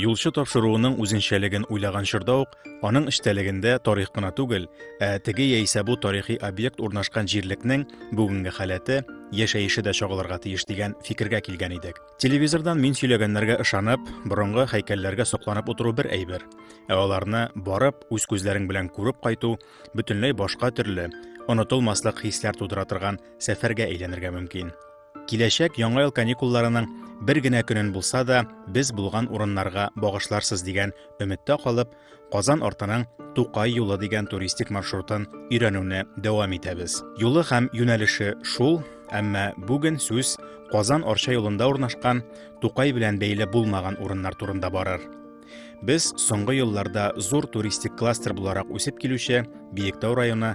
Юлчы тапшыруының үзенчәлеген уйлаган чорда ук Аның эчтәлегендә тарих кына түгел, ә теге яисә бу тарихи объект урнашкан җирлекнең бүгенге халәте, яшәеше дә чагылырга тиеш дигән фикергә килгән идек. Телевизордан мин сөйләгәннәргә ышанып, борынгы һәйкәлләргә сокланып утыру бер әйбер, ә аларны барып, үз күзләрең белән күреп кайту бөтенләй башка төрле, онытылмаслык хисләр тудыра торган сәфәргә әйләнергә мөмкин. Киләчәк яңа ел каникулларының бер генә көнен булса да без булган урыннарга багышларсыз дигән өметтә калып, Казан артының Тукай юлы дигән туристик маршрутын өйрәнүне дәвам итәбез. Юлы һәм юнәлеше шул, әмма бүген сүз Казан Арча юлында урнашкан Тукай белән бәйле булмаган урыннар турында барыр. Без соңгы елларда зур туристик кластер буларак үсеп килүче Биектау районы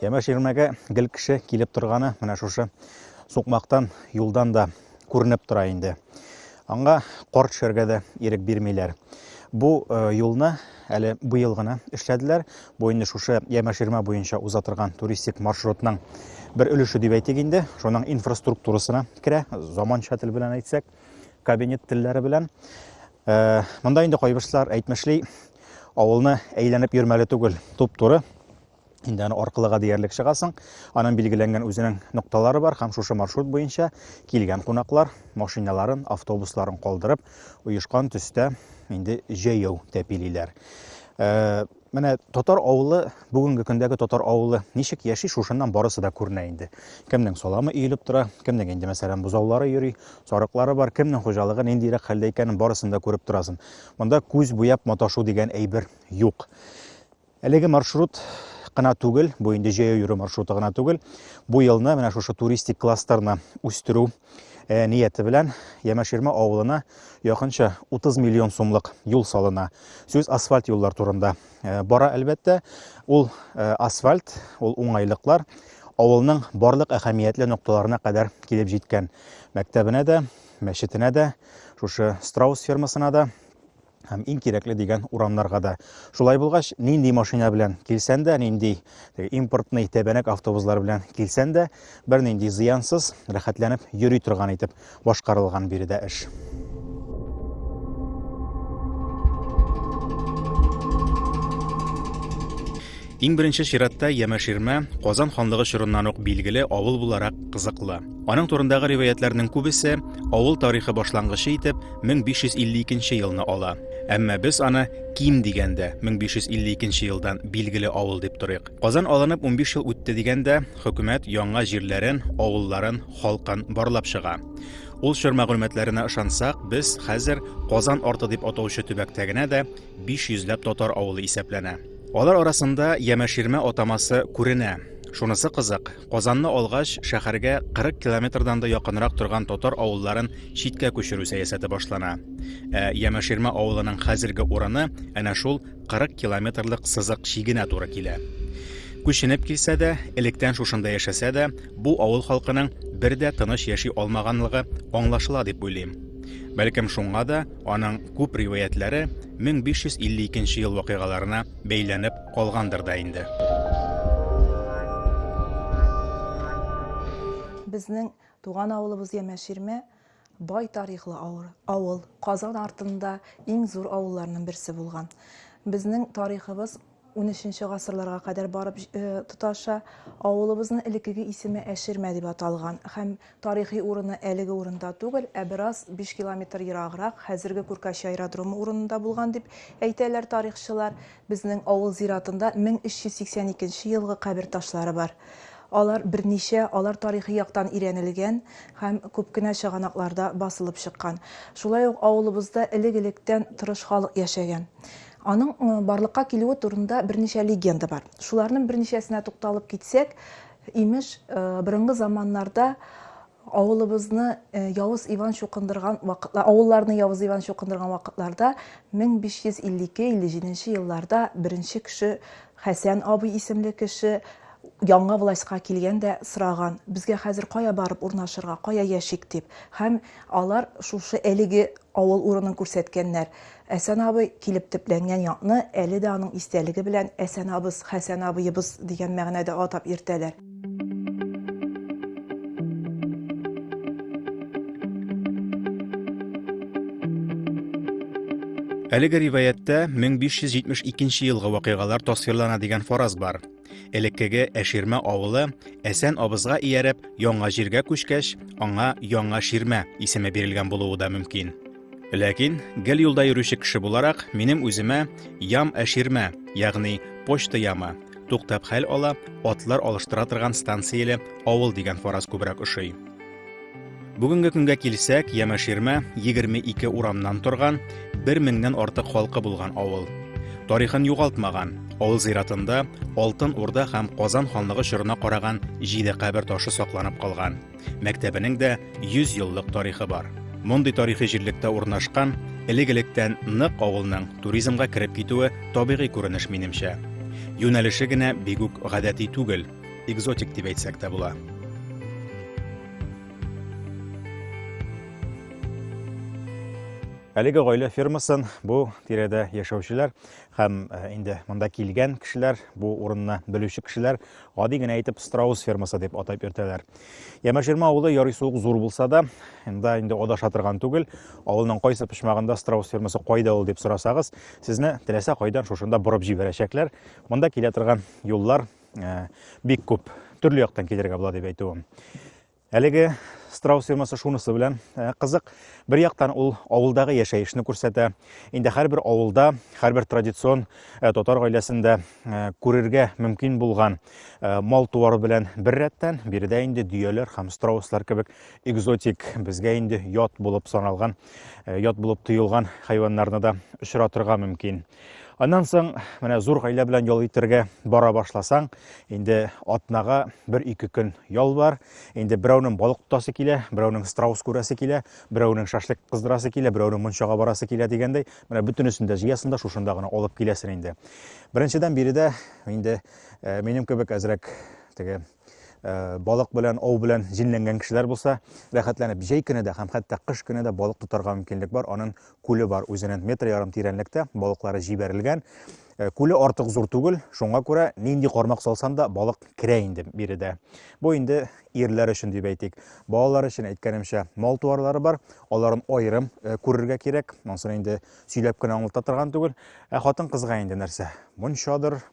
Ямеш ирмәгә гел кеше килеп торганы менә шушы сукмактан, юлдан да күренеп тора инде. Аңа кар төшәргә дә ирек бирмиләр. Бу э, юлны әле быел гына эшләделәр. Бу инде шушы Ямеш ирмә буенча уза торган туристик маршрутның бер өлеше дип әйтик инде. Шуның инфраструктурасына керә, заманча тел белән әйтсәк, кабинет телләре белән. Э, монда инде кайбышлар әйтмешли, авылны әйләнеп йөрмәле түгел, туп-туры инде аны аркылыга диярлек чыгасың. Аның билгеләнгән үзенең нокталары бар һәм шушы маршрут буенча килгән кунаклар машиналарын, автобусларын калдырып, оешкан төстә инде җәяү тәпилиләр. Э, менә татар авылы, бүгенге көндәге татар авылы ничек яши, шушыннан барысы да күренә инде. Кемнең саламы өелеп тора, кемнең инде мәсәлән бузаулары йөри, сарыклары бар, кемнең хуҗалыгы ниндирәк хәлдә икәнен барысын да күреп торасың. Монда күз буяп маташу дигән әйбер юк. Әлеге маршрут кына түгел, бу инде җәяү йөрү маршруты гына түгел. Бу елны менә шушы туристик кластерны үстерү Э, нияте белән Ямаширма авылына якынча 30 миллион сумлык юл салына. Сүз асфальт юллар турында э, бара әлбәттә. Ул э, асфальт, ул уңайлыклар авылның барлык әһәмиятле нокталарына кадәр килеп җиткән. Мәктәбенә дә, мәчетенә дә, шушы Страус фермасына да, һәм иң кирәкле дигән урамнарга да. Шулай булгач, нинди машина белән килсән дә, нинди импортный тәбәнәк автобуслар белән килсән дә, бернинди зыянсыз, рәхәтләнеп йөри торган итеп башкарылган биредә эш. Иң беренче чиратта Ямәширмә Казан ханлыгы чорыннан ук билгеле авыл буларак кызыклы. Аның турындагы риваятләрнең күбесе авыл тарихы башлангычы итеп 1552 елны ала. Әмма без аны ким дигәндә 1552 елдан билгеле авыл дип торыйк. Казан алынып 15 ел үтте дигәндә, хөкүмәт яңа җирләрен, авылларын, халкын барлап чыга. Ул чор мәгълүматларына ышансак, без хәзер Казан арты дип атаучы төбәктә генә дә 500 ләп татар авылы исәпләнә. Алар арасында Ямәширмә атамасы күренә. Шунысы кызык, Казанны алгач, шәһәргә 40 километрдан да якынрак торган татар авылларын читкә күчерү сәясәте башлана. Ә Ямаширмә авылының хәзерге урыны әнә шул 40 километрлык сызык чигенә туры килә. Күченеп килсә дә, электән шушында яшәсә дә, бу авыл халкының бер дә тыныч яши алмаганлыгы аңлашыла дип уйлыйм. Бәлкем шуңа да аның күп риваятләре 1552 ел вакыйгаларына бәйләнеп калгандыр да инде. Безнең туган авылыбыз Ямәширмә бай тарихлы авыл. Казан артында иң зур авылларның берсе булган. Безнең тарихыбыз 13-нче гасырларга кадәр барып э, тоташа. Авылыбызның элеккеге исеме Әширмә дип аталган һәм Тарихи урыны әлеге урында түгел, ә бераз биш километр ераграк, хәзерге Күркәче аэродромы урынында булган дип әйтәләр тарихчылар. Безнең авыл зиратында 1382 нче елгы кабер ташлары бар. Алар берничә, алар тарихи яктан өйрәнелгән һәм күп кенә чыганакларда басылып чыккан. Шулай ук авылыбызда элек-электән тырыш халык яшәгән. Аның барлыкка килүе турында берничә легенда бар. Шуларның берничәсенә тукталып китсәк, Имеш, борынгы заманнарда авылыбызны Явыз Иван чукындырган вакытлар, авылларны Явыз Иван чукындырган вакытларда 1552-57 елларда беренче кеше Хәсән абый исемле кеше яңа властька килгән дә сораган, безгә хәзер кая барып урнашырга, кая яшик дип. Һәм алар шушы әлеге авыл урынын күрсәткәннәр. Әсән абый килеп төпләнгән якны әле дә аның истәлеге белән Әсән абыз, Хәсән абыебыз дигән мәгънәдә атап йөртәләр. Әлеге риваятьтә 1572 елгы вакыйгалар тасвирлана дигән фараз бар. Элеккеге Әширмә авылы Әсән абызга ияреп, яңа җиргә күчкәч, аңа Яңа Ширмә исеме бирелгән булуы да мөмкин. Ләкин, гел юлда йөрүче кеше буларак, минем үземә ям әширмә, ягъни почта яма, туктап хәл ала, атлар алыштыра торган станцияле авыл дигән фараз күбрәк ошый. Бүгенге көнгә килсәк, Ямәширмә 22 урамнан торган, 1000-нән артык халкы булган авыл. Тарихын югалтмаган, авыл зиратында Алтын Урда һәм Казан ханлыгы чорына караган җиде кабер ташы сакланып калган. мәктәбенең дә 100 еллык тарихы бар. Мондый тарихи җирлектә урнашкан, элек-электән нык авылның туризмга кереп китүе табигый күренеш минемчә. Юнәлеше генә бик үк гадәти түгел, экзотик дип әйтсәк тә була. Әлеге гаилә фермасын бу тирәдә яшәүчеләр һәм э, инде монда килгән кешеләр, бу урынны белүче кешеләр Гади генә итеп страус фермасы дип атап йөртәләр. Ямаширма авылы ярый суык зур булса да, инде инде адаша торган түгел. Авылның кайсы почмагында страус фермасы кайда ул дип сорасагыз, сезне теләсә кайдан шушында борып җибәрәчәкләр. Монда килә торган юллар э, бик күп. Төрле яктан килергә була дип әйтүем. Әлеге страус фермасы шунысы белән э, кызык. Бер яктан ул авылдагы яшәешне күрсәтә. Инде һәрбер авылда, һәрбер традицион э, татар гаиләсендә э, күрергә мөмкин булган мал туары белән бер рәттән, биредә инде дөяләр һәм страуслар кебек экзотик, безгә инде ят булып саналган, ят булып тоелган хайваннарны да очратырга мөмкин. Аннан соң менә зур гаилә белән ял итәргә бара башласаң, инде атнага бер ике көн ял бар. Инде берәүнең балык тотасы килә, берәүнең страус күрәсе килә, берәүнең шашлык кыздырасы килә, берәүнең мунчага барасы килә дигәндәй, менә бөтенесен дә җыясың да шушында гына алып киләсең инде. Беренчедән биредә инде э, минем кебек әзрәк теге Э, балык белән ау белән җенләнгән кешеләр булса рәхәтләнеп җәй көне дә һәм хәтта кыш көне дә балык тотарга мөмкинлек бар аның күле бар үзенен метр ярым тирәнлектә балыклары җибәрелгән э, күле артык зур түгел шуңа күрә нинди кармак салсан да балык керә инде биредә бу инде ирләр өчен дип әйтик балалар өчен әйткәнемчә мал туарлары бар аларын аерым э, күрергә кирәк монсын инде сөйләп кенә аңлата торган түгел ә хатын кызга инде нәрсә мунчадыр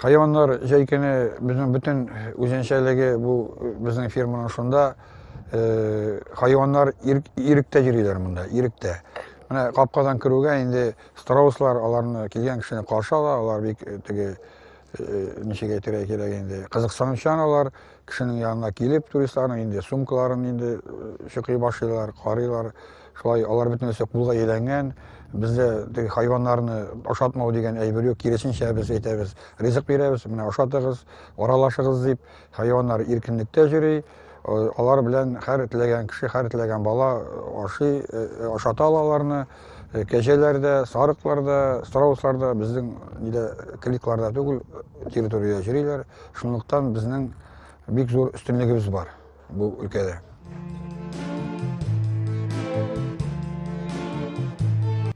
Хайваннар җәй көне безнең бөтен үзенчәлеге бу безнең ферманың шунда. Хайваннар иректә йөриләр монда, иректә. Менә капкадан керүгә инде страуслар аларны килгән кешене каршы ала, алар бик теге ничек әйтергә кирәк инде кызыксынучан алар кешенең янына килеп туристларның инде сумкаларын инде чокый башлыйлар карыйлар Шулай алар бөтенесе кулга әйләнгән. Бездә теге хайваннарны ашатмау дигән әйбер юк, киресенчә без әйтәбез, ризык бирәбез, менә ашатыгыз, аралашыгыз дип. Хайваннар иркенлектә йөри, алар белән һәр теләгән кеше, һәр теләгән бала ашый, ашата ала аларны. Кәҗәләр дә, сарыклар да, страуслар да безнең нидә кликларда түгел, территориядә йөриләр. Шунлыктан безнең бик зур өстенлегебез бар. bu ülkede.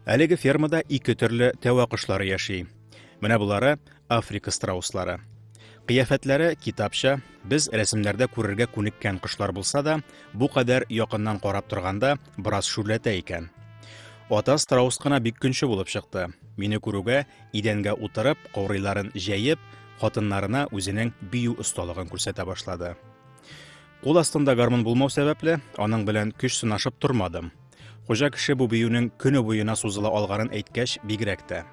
Әлеге фермада ике төрле тәвә кошлары яши. Менә булары Африка страуслары. Кыяфәтләре китапча, без рәсемнәрдә күрергә күнеккән кошлар булса да, бу кадәр якыннан карап торганда бераз шүрләтә икән. Ата страус кына бик көнче булып чыкты. Мине күрүгә, идәнгә утырып, каурыйларын җәеп, хатыннарына үзенең бию осталыгын күрсәтә башлады. Кул астында гармун булмау сәбәпле, аның белән көч сынашып тормадым. Хуҗа кеше бу биюнең көне буена сузыла алганын әйткәч, бигрәк тә.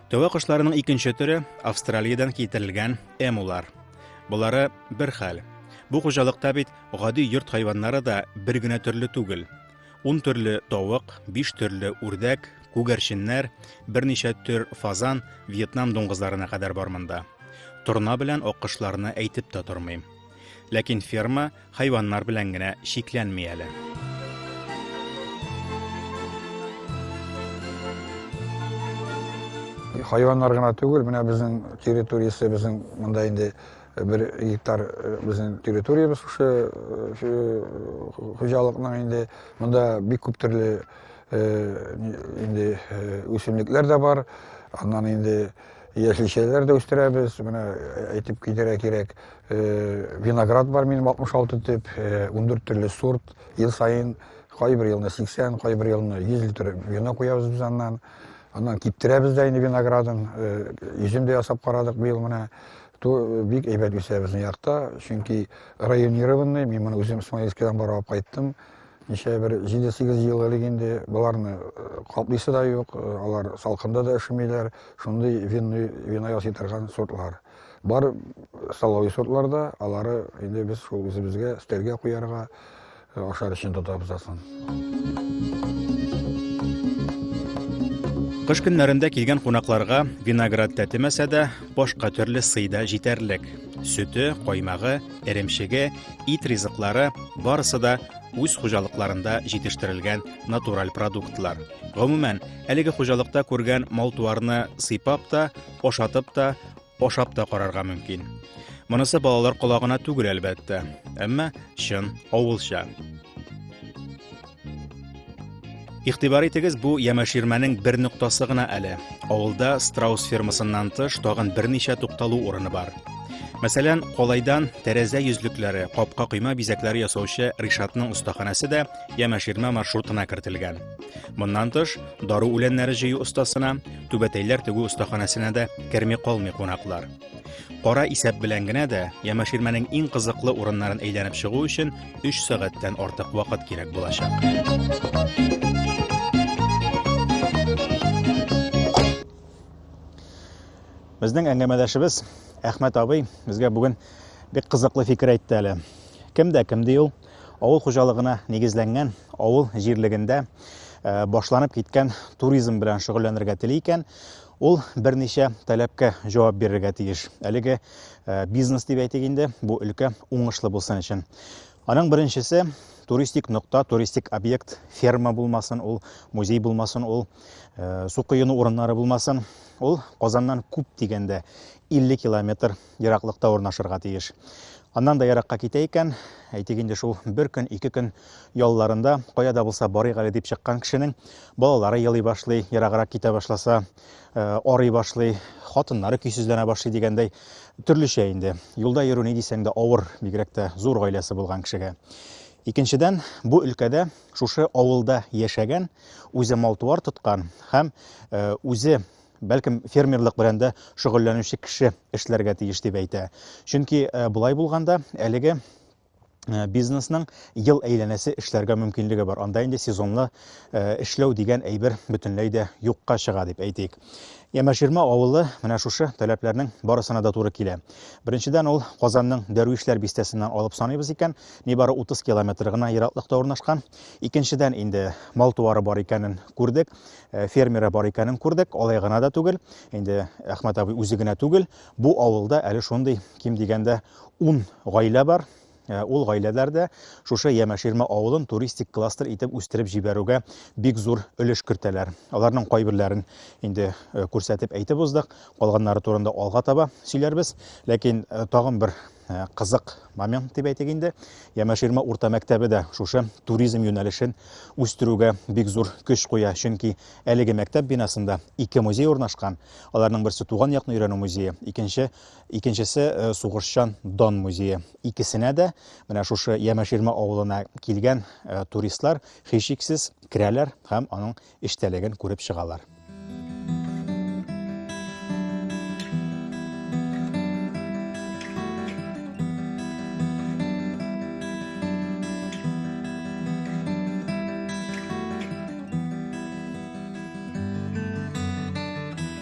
Тәвә кошларының икенче төре Австралиядән китерелгән эмулар. Болары бер хәл. Бу хуҗалыкта бит гади йорт хайваннары да бер генә төрле түгел. Ун төрле тавык, биш төрле үрдәк, күгәрченнәр, берничә төр фазан, вьетнам дуңгызларына кадәр бар монда. Торна белән аккошларны әйтеп тә тормыйм. Ләкин ферма хайваннар белән генә чикләнми әле. Хайваннар гына түгел, менә безнең территориясе, безнең монда инде бер гектар безнең территориябез шушы хуҗалыкның инде монда бик күп төрле инде үсемлекләр дә бар аннан инде яшелчәләр дә үстерәбез менә әйтеп китәргә кирәк виноград бар минем алтмыш алты төп ундүрт төрле сорт ел саен кайбер елны сиксән кайбер елны йөз литр вино куябыз без аннан аннан киптерәбез дә инде виноградын йөзем дә ясап карадык быел менә Ту бик әйбәт үсә безнең якта, чөнки районированный, мин моны үзем Смоленскидан барып алып кайттым. Ничә бер 7-8 ел элек инде боларны э, каплыйсы да юк, э, алар салкында да өшемиләр, шундый винный вино ясый торган сортлар. Бар столовый сортлар да, алары инде без шул үзебезгә, өстәлгә куярга, Ашар өчен тотабыз асын. Кыш көннәрендә килгән кунакларга виноград тәтемәсә дә, башка төрле сый да җитәрлек. Сөте, каймагы, эремчеге, ит ризыклары барысы да үз хуҗалыкларында җитештерелгән натураль продуктлар. Гомумән, әлеге хуҗалыкта күргән мал-туарны сыйпап та, ашатып та, Ашап та карарга мөмкин. Монысы балалар колагына түгел әлбәттә, әмма чын авылча. Игътибар итегез, бу ямәширмәнең бер ноктасы гына әле. Авылда страус фермасыннан тыш тагын берничә тукталу урыны бар. Мәсәлән, Колайдан тәрәзә йөзлекләре, капка койма бизәкләре ясаучы Ришатның остаханәсе дә ямәширмә маршрутына кертелгән. Моннан тыш, дару үләннәре җыю остасына, түбәтәйләр тегү остаханәсенә дә керми калмый кунаклар. Кара исәп белән генә дә Ямаширмәнең иң кызыклы урыннарын әйләнеп чыгу өчен 3 сәгатьтән артык вакыт кирәк булачак. Безнең әңгәмәдәшебез Әхмәт абый безгә бүген бик кызыклы фикер әйтте әле. Кем дә кем ди ул? Авыл хуҗалыгына нигезләнгән авыл җирлегендә э, башланып киткән туризм белән шөгыльләнергә тели икән, ул берничә таләпкә җавап бирергә тиеш. Әлеге э, бизнес дип әйтик инде, бу өлкә уңышлы булсын өчен. Аның беренчесе туристик нокта, туристик объект, ферма булмасын, ул музей булмасын, ул э, су коену урыннары булмасын. Ул Казаннан күп дигәндә 50 километр ераклыкта урнашырга тиеш. Аннан да еракка китә икән, әйтик инде шул бер көн, ике көн ялларында кая да булса барыйк әле дип чыккан кешенең балалары елый башлый, ераграк китә башласа, э, арый башлый, хатыннары көйсезләнә башлый дигәндәй төрлечә инде. Юлда йөрү ни дисәң дә авыр, бигрәк тә зур гаиләсе булган кешегә. Икенчедән, бу өлкәдә шушы авылда яшәгән, үзе мал-туар тоткан һәм э, үзе бәлкем фермерлык белән дә шөгыльләнүче кеше эшләргә тиеш дип әйтә. Чөнки э, болай булганда әлеге э, бизнесның ел әйләнәсе эшләргә мөмкинлеге бар. Анда инде сезонлы э, эшләү дигән әйбер бөтенләй дә юкка чыга дип әйтик. Ямаширма авылы менә шушы таләпләрнең барысына да туры килә. Беренчедән ул Казанның Дәрвишләр бистәсеннән алып саныйбыз икән, нибары 30 километр гына ераклыкта урнашкан. Икенчедән инде мал туары бар икәнен күрдек. Э, фермеры бар икәнен күрдек. Алай гына да түгел, инде Әхмәт абый үзе генә түгел, бу авылда әле шундый ким дигәндә 10 гаилә бар. Э, ул гаиләләр дә шушы Ямәширмә авылын туристик кластер итеп үстереп җибәрүгә бик зур өлеш кертәләр. Аларның кайберләрен инде э, күрсәтеп әйтеп уздык, калганнары турында алга таба сөйләрбез. Ләкин тагын бер э, кызык момент дип әйтик инде. Ямаширма урта мәктәбе дә шушы туризм юнәлешен үстерүгә бик зур көч куя, чөнки әлеге мәктәп бинасында ике музей урнашкан. Аларның берсе туган якны өйрәнү музее, икенче икенчесе э, сугышчан дан музее. Икесенә дә менә шушы Ямаширма авылына килгән э, туристлар һичшиксез керәләр һәм аның эчтәлеген күреп чыгалар.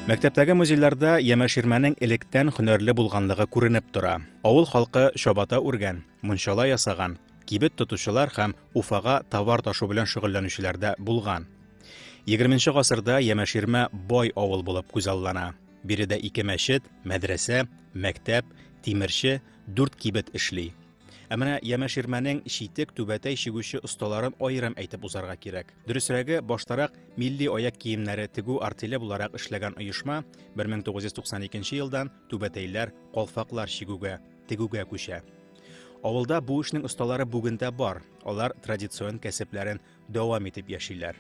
Мәктәптәге музейларда Ямәширмәнең электән хөнәрле булганлыгы күренеп тора. Авыл халкы чабата үргән, мунчала ясаган, кибет тотучылар һәм Уфага товар ташу белән шөгыльләнүчеләр дә булган. 20 гасырда Ямәширмә бай авыл булып күзаллана. Биредә ике мәчет, мәдрәсә, мәктәп, тимерче, дүрт кибет эшли. Ә менә Ямәширмәнең читек түбәтәй чигүче осталарын аерым әйтеп узарга кирәк. Дөресрәге, баштарак милли аяк киемнәре тегү артеле буларак эшләгән оешма 1992 елдан түбәтәйләр, калфаклар чигүгә, тегүгә күчә. Авылда бу эшнең осталары бүген дә бар, алар традицион кәсепләрен дәвам итеп яшиләр.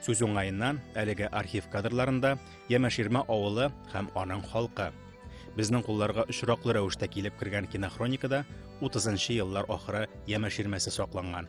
Сүз уңаеннан, әлеге архив кадрларында Ямаширма авылы һәм аның халкы. Безнең кулларга очраклы рәвештә килеп кергән кинохроникада 30 еллар ахыры Ямаширмәсе сакланган.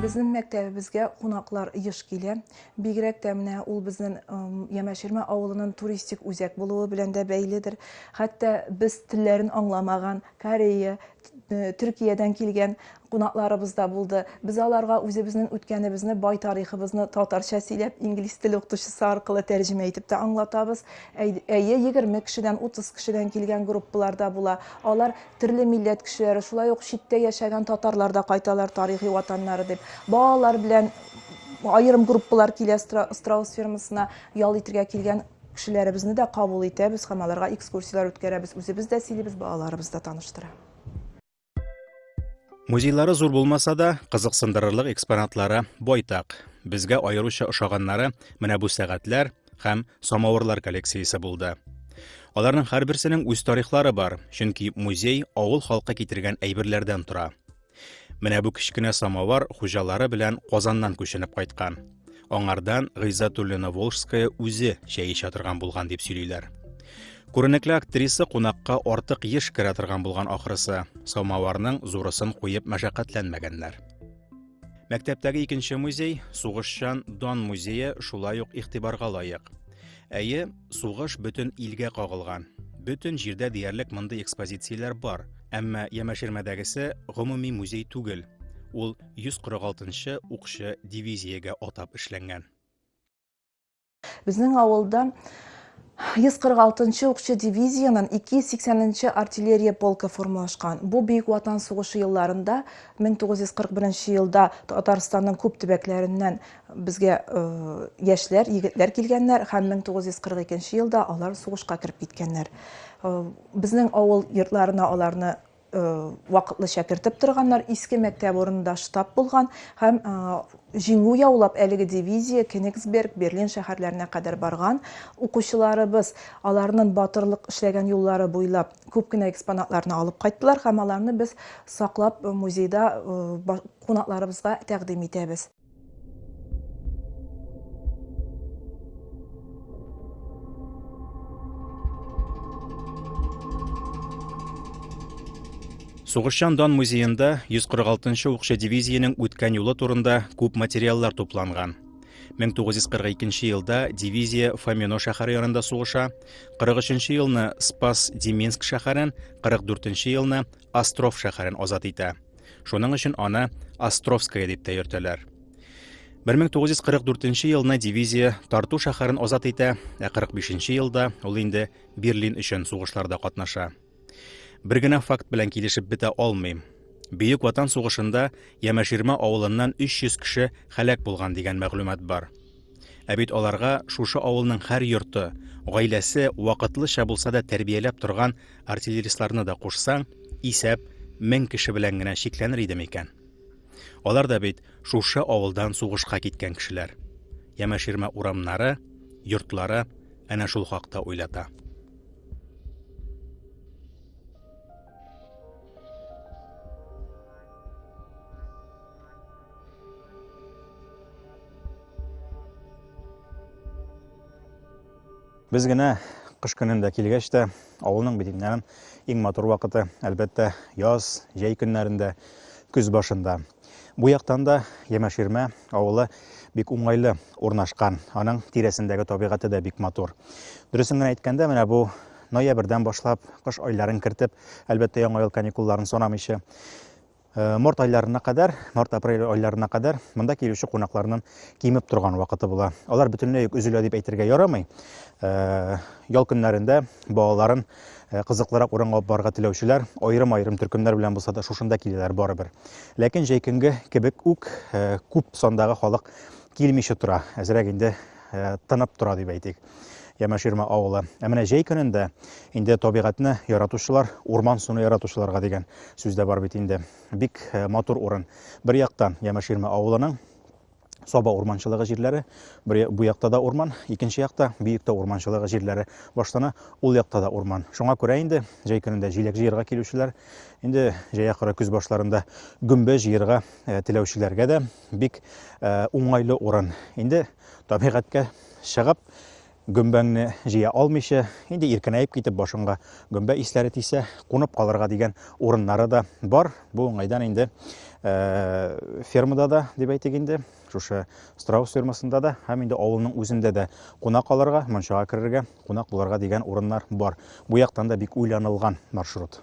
Безнең мәктәбебезгә кунаклар еш килә. Бигрәк тә менә ул безнең Ямәширмә авылының туристик үзәк булуы белән дә бәйледер. Хәтта без телләрен аңламаган Корея, э, Төркиядән килгән кунакларыбыз да булды. Без аларга үзебезнең үткәнебезне, бай тарихыбызны татарча сөйләп, инглиз теле укытучысы аркылы тәрҗемә итеп тә аңлатабыз. Әй- Әйе, 20 кешедән, 30 кешедән килгән группалар да була. Алар Төрле милләт кешеләре, шулай ук читтә яшәгән татарлар да кайталар тарихи ватаннары дип. Балалар белән аерым группалар килә страус фермасына ял итергә килгән кешеләребезне дә кабул итәбез һәм аларга экскурсияләр үткәрәбез. Үзебез дә сөйлибез, балаларыбыз да таныштыра. Музейлары зур булмаса да, кызыксындырырлык экспонатлары байтак. Безгә аеруча ошаганнары менә бу сәгатьләр, һәм самавырлар коллекциясе булды. Аларның һәрберсенең үз тарихлары бар, чөнки музей авыл халкы китергән әйберләрдән тора. Менә бу кечкенә самовар хуҗалары белән Казаннан күченеп кайткан. Аңардан Гыйззатуллина Волжская үзе чәй эчә торган булган дип сөйлиләр. Күренекле актриса кунакка артык еш керә торган булган ахрысы, самоварның зурысын куеп мәшәкатьләнмәгәннәр. Мәктәптәге икенче музей, Сугышчан дан музее шулай ук игътибарга лаек. Әйе, сугыш бөтен илгә кагылган. Бөтен җирдә диярлек мондый экспозицияләр бар, әмма Ямәшермәдәгесе гомуми музей түгел. Ул 146 нчы укчы дивизиягә атап эшләнгән. Безнең авылда 146 нчы укчы дивизиянең 280 нчы артиллерия полкы формалашкан. Бу Бөек Ватан сугышы елларында 1941 елда Татарстанның күп төбәкләреннән безгә э, яшьләр, егетләр килгәннәр һәм 1942 елда алар сугышка кереп киткәннәр. Э, безнең авыл йортларына аларны вакытлыча кертеп торганнар, иске мәктәп урынында штаб булган һәм җиңү яулап әлеге дивизия Кенигсберг, Берлин шәһәрләренә кадәр барган. Укучыларыбыз аларның батырлык эшләгән юллары буйлап күп кенә экспонатларны алып кайттылар һәм аларны без саклап музейда кунакларыбызга тәкъдим итәбез. Сугышчан дан музеенда 146-нчы укчы дивизиянең үткән юлы турында күп материаллар тупланган. 1942 елда дивизия Фомино шәһәре янында сугыша, 43 елны Спас-Деминск шәһәрен, 44 елны Остров шәһәрен азат итә. Шуның өчен аны Островская дип тә йөртәләр. 1944 елны дивизия Тарту шәһәрен азат итә, ә 45 елда ул инде Берлин өчен сугышларда катнаша. Бер генә факт белән килешеп бетә алмыйм. Бөек Ватан сугышында Ямәширма авылыннан 300 кеше һәлак булган дигән мәгълүмат бар. Ә бит аларга шушы авылның һәр йорты, гаиләсе вакытлыча булса да тәрбияләп торган артиллеристларны да кушсаң, исәп мең кеше белән генә чикләнер иде микән? Алар да бит шушы авылдан сугышка киткән кешеләр. Ямәширмә урамнары, йортлары әнә шул хакта уйлата. Без генә кыш көнендә килгәч тә, авылның битеннән иң матур вакыты, әлбәттә, яз, җәй көннәрендә, көз башында. Бу яктан да Ямаширмә авылы бик уңайлы урнашкан. Аның тирәсендәге табигате дә бик матур. Дөресен генә әйткәндә, менә бу ноябрьдән башлап, кыш айларын кертеп, әлбәттә, яңа ел каникулларын санамыйча, Э, март айларына кадәр, март-апрель айларына кадәр монда килүче кунакларның кимеп торган вакыты була. Алар бөтенләй үк өзелә дип әйтергә ярамый. Э, ял көннәрендә балаларын э, кызыклырак урынга алып барырга теләүчеләр аерым-аерым төркемнәр белән булса да шушында киләләр барыбер. Ләкин җәй көнге кебек үк күп сандагы халык килмичә тора. Әзрәк инде тынып тора дип әйтик. Ямаширма авылы. Ә менә җәй көнендә инде табигатьне яратучылар, урман суны яратучыларга дигән сүз дә бар бит инде. Бик э, матур урын. Бер яктан Ямаширма авылының Саба урманчылыгы җирләре, бу якта да урман, икенче якта Биектә урманчылыгы җирләре. Баштана ул якта да урман. Шуңа күрә инде җәй көнендә җиләк җыерга килүчеләр, инде җәй ахыры көз башларында гөмбә җыерга э, теләүчеләргә дә бик э, уңайлы урын. Инде табигатькә чыгып, гөмбәңне җыя алмыйча, инде иркенәеп китеп, башыңга гөмбә исләре тисә, кунып калырга дигән урыннары да бар. Бу уңайдан инде э, фермада да, дип әйтик инде, шушы страус фермасында да һәм инде авылның үзендә дә кунак алырга, мончага керергә, кунак булырга дигән урыннар бар. Бу яктан да бик уйланылган маршрут.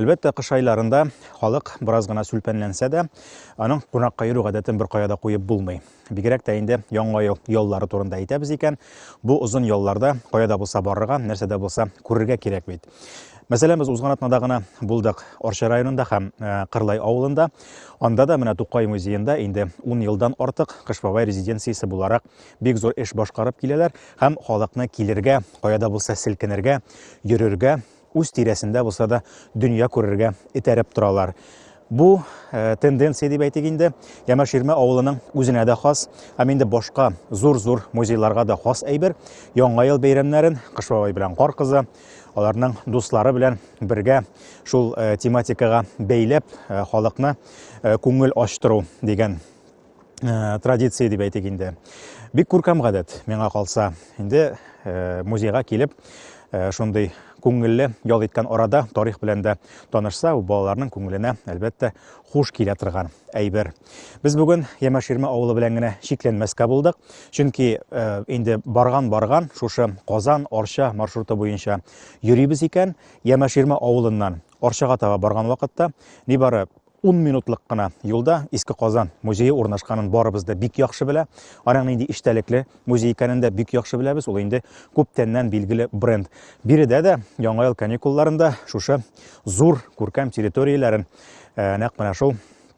Әлбәттә, кыш айларында халык бераз гына сүлпәнләнсә дә, аның кунакка йөрү гадәтен беркая да куеп булмый. Бигрәк тә инде яңа ел яллары турында әйтәбез икән, бу озын ялларда кая да булса барырга, нәрсә дә булса күрергә кирәк бит. Мәсәлән, без узган атнада гына булдык Орча районында һәм э, Кырлай авылында. Анда да менә Тукай музеенда инде 10 елдан артык Кыш бабай резиденциясе буларак бик зур эш башкарып киләләр һәм халыкны килергә, каяда булса селкенергә, йөрергә, үз тирәсендә булса да дөнья күрергә этәреп торалар. Бу э, тенденция дип әйтик инде, Ямаширмә авылының үзенә дә хас, һәм инде башка зур-зур музейларга да хас әйбер. Яңа ел бәйрәмнәрен Кыш бабай белән Кар кызы, аларның дуслары белән бергә шул э, тематикага бәйләп э, халыкны э, күңел ачтыру дигән традиция дип әйтик инде. Бик күркәм гадәт, миңа калса. Инде музейга килеп, шундый күңелле ял иткән арада тарих белән дә танышса, балаларның күңеленә, әлбәттә, хуш килә торган әйбер. Без бүген Ямаширма авылы белән генә чикләнмәскә булдык, чөнки э, инде барган-барган шушы Казан, Арча маршруты буенча йөрибез икән, Ямаширма авылыннан Арчага таба барган вакытта нибары 10 минутлык кына юлда Иске Казан музее урнашканын барыбыз да бик яхшы белә. Аның нинди иштәлекле музей икәнен дә бик яхшы беләбез. Ул инде күптәннән билгеле бренд. Биредә дә яңа ел каникулларында шушы зур күркәм территорияләрен э, нәкъ менә шул